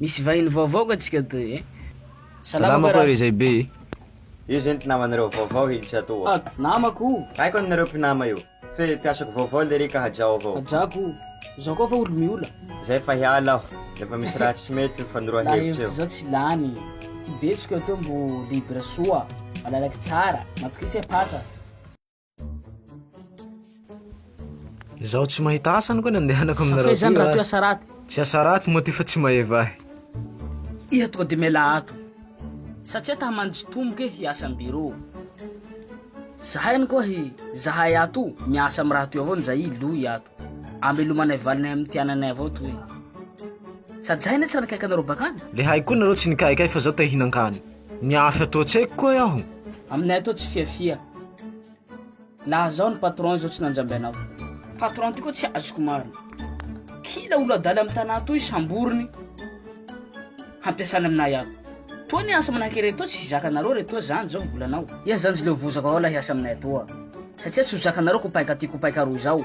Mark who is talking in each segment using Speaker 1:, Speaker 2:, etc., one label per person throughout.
Speaker 1: Misy vahiny vaovao ka tsika toy e. Salama
Speaker 2: koa re zay be e. Io zay ny
Speaker 3: mpinamanareo vaovao hely tsy atao a. Ah, namako o. Haiko
Speaker 1: an nareo mpinama
Speaker 3: io. Fe mpiasako vaovao lery ka hajao avao. Hajako o.
Speaker 1: Zao koa fa olo miola. Zay fa hiala
Speaker 3: aho. Efa misy raha tsy mety ny fanoroa hevitra eo. Laha hevitra zao tsy lany.
Speaker 1: Ty betsoka eo mbo libre soa. Malalaky tsara. Matokisa e paka.
Speaker 2: Izaho tsy mahita asa no ka nandehanako aminareo. Safe zany raha toy asa raty.
Speaker 1: Tsy asa raty moa ty
Speaker 2: fa tsy maheva ahy. Iha
Speaker 1: toa de mela ato. Satsia ta hamanjo tomboka e hiasa am bureau. Zahay any koa hi, zahay ato miasa am raha toy avao nizay i Loy ato. Amelomanay valinay am ty ananay avao toy. Sady zahay anie tsy nanakaiky anareo bakany. Le hay koa nareo tsy
Speaker 2: nikaikay fa zaho te hihinan-kany. Ny hafa eto an-tsaiko koa e aho. Aminay ato tsy
Speaker 1: fiafia. Laha zao ny patron zao tsy nanjamby anao. Patron ty koa tsy azoko marina. Kila olo adala am tanà toy samboriny hampiasana aminay ato. Toa ny asa manahaka iretoa tsy zakanareo retoa zany zao ny volanao. Ia zany zleo vozaka ao lahy asa aminay atoa satsia tsy ho zakanareo kopainka ty kopainka aroa zao.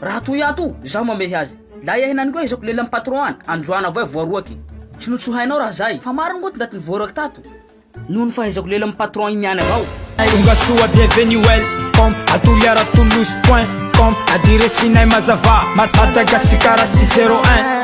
Speaker 1: Raha toy ato, zaho mamehy azy. Lay ahy nany koa ezako lelan'ny patron an, androany avao e voaroaky. Tsy notsohainao raha zay, fa maro angoto ndaty nivoaraky tato. Noho ny fahaizako lelan'ny patron iny ihany avao. Tonga soa
Speaker 4: bienvenue welcome A Toliara Toulouse point com Adiresinay mazava Mad Madagasikara six zero un